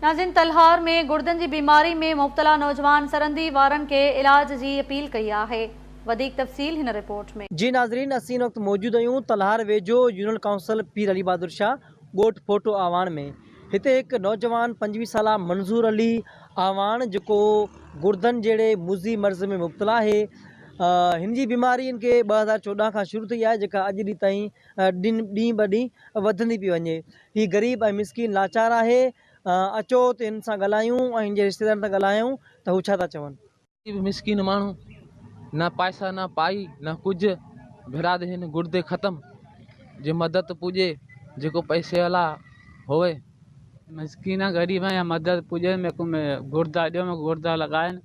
ناظرين تلهار ۾ گڙدن جي بيماري ۾ مبتلا نوجوان سرندي وارن کي علاج جي اپيل ڪئي آهي وڌيڪ تفصيل هن رپورٽ ۾. جي ناظرين اسين ان وقت موجود اهيون تلهار ويجهو يونين ڪائونسل پير علي بهادر شاھ ڳوٺ ڦوٽو اعواڻ ۾ هتي هڪ نوجوان پنجويهه سالا منظور علي اعواڻ جيڪو گڙدن جهڙي مضي مرض ۾ مبتلا آهي هن جي بيماري هن کي ٻه هزار چوڏهن کان شروع ٿي آهي جيڪا اڄ ڏينهن تائين ڏينهن ڏينهن ٻه ڏينهن وڌندي پئي وڃي هي غريب ۽ مسڪين لاچار آهي اچو ته هن سان ڳالهايون ۽ هن جي رشتيدارن سان ڳالهايون ته هو ڇا ٿا چون. غريب مسڪين ماڻهو نه پائسا نه پائي نه ڪجهه ڀيراد هن گردي ختم جي مدد پوڄي جيڪو پئسي والا هوئي. مسڪين غريب يا مدد پوڄي ۾ ڪو ۾ گردا ڏيو ۾ گردا لڳائن.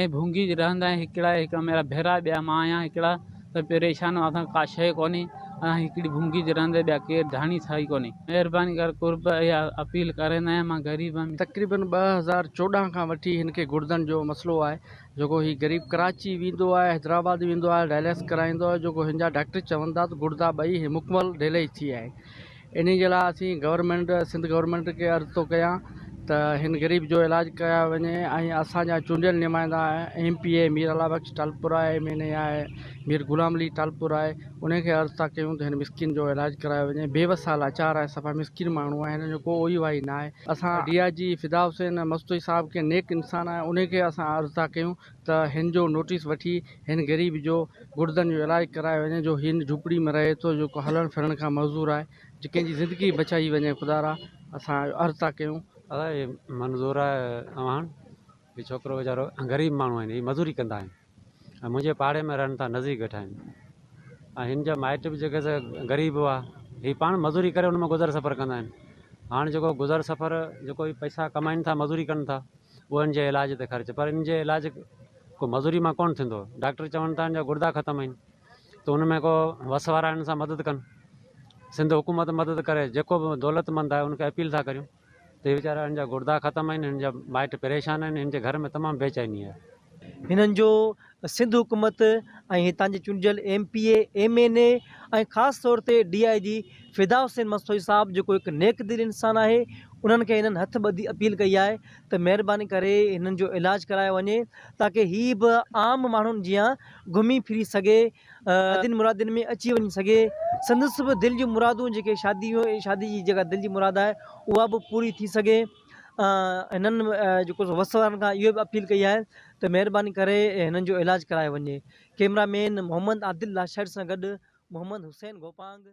۽ ڀونگي رهندائين هڪڙا هڪ ميرا ڀيرا ٻيا مان آهيان هڪڙا ته پريشانو اسان کي ڪا شيء ڪونهي اسان کي هڪڙي ڀونگي جي رهندي ٻيا ڪير ڌڻي ٿا ئي ڪونهي مهرباني ڪري قرب اها اپيل ڪريندو آهيان مان غريب هيم تقريبن ٻه هزار چوڏهن کان وٺي هن کي گڙدن جو مسئلو آهي جيڪو هي غريب ڪراچي ويندو آهي حيدرآباد ويندو آهي ڊائلس ڪرائيندو آهي جيڪو هن جا ڊاڪٽر چون ٿا ته گڙدا ٻئي هي مڪمل ڊيلئي ٿي آهي انهي جي لاء اسين گورنمينٽ سنڌ گورنمينٽ کي عرض ٿو ڪيان ته هن غريب جو علاج ڪيا وڃي ۽ اسان جا چونڊيل نمائندا M P A Mir Allah Bakhsh Talpur آهي ايم اين اي آهي مير غلام علي ٽالپر آهي انهن کي عرض ٿا ڪيون ته هن مسڪين جو علاج ڪرايو وڃي بي وس آهي لاچار آهي صفا مسڪين ماڻهو آهي هنن جو ڪو اوهي واهي ناهي اسان ڊي آء جي فدا حسين مستوئي صاحب کي نيڪ انسان آهي انهي کي اسان عرض ٿا ڪيون ته هن جو نوٽيس وٺي هن غريب جو گڙدن جو علاج ڪرايو وڃي جو هي ان جهوپڙي ۾ رهي ٿو جو ڪو هلڻ ڦرڻ کان معذور آهي جو ڪنهن جي زندگي بچائي وڃي خدا را اسان اهو عرض ٿا ڪيون. ادا هي منظور آهي اوهان هي ڇوڪرو ويچارو غريب ماڻهو آهن هي مزوري ڪندا آهن ۽ منهنجي پاڙي ۾ رهن ٿا نزديڪ ويٺا آهن ۽ هن جا مائٽ به جيڪي سا غريب هئا هي پاڻ مزوري ڪري ان مان گذر سفر ڪندا آهن هاڻ جيڪو گذر سفر جيڪو هي پئسا ڪمائن ٿا مزوري ڪن ٿا اهو هن جي علاج تي خرچ پر ان جي علاج ڪو مزوري مان ڪونه ٿيندو ڊاڪٽر چون ٿا هن جا گردا ختم آهن ته ان ۾ ڪو وس وارا هن سان مدد ڪن سنڌ حڪومت مدد ڪري جيڪو به دولت مند آهي ان کي اپيل ٿا ڪريون ته هي ويچارا هن جا گردا ختم آهن هن جا مائٽ پريشان آهن هن جي گهر ۾ تمام بيچيني آهي هنن جو سنڌ حڪومت ۽ هتان جي چونڊيل M P A, M N A ۽ خاص طور تي ڊي آء جي فدا حسين مستوئي صاحب جيڪو هڪ نيڪ دل انسان آهي انهن کي هنن هٿ ٻڌي اپيل ڪئي آهي ته مهرباني ڪري هنن جو علاج ڪرايو وڃي تاڪه هي به عام ماڻهن جيان گهمي ڦري سگهي شادين مرادين ۾ اچي وڃي سگهي سندس به دل جون مرادون جيڪي شادي شادي جي جيڪا دل جي مراد آهي اها به پوري ٿي سگهي. هنن جيڪو وس وارن کان اهو به اپيل ڪئي آهي ته مهرباني ڪري هنن جو علاج ڪرايو وڃي ڪيمرا مين محمد عادل لاشاري سان گڏ محمد حسين گوپانگ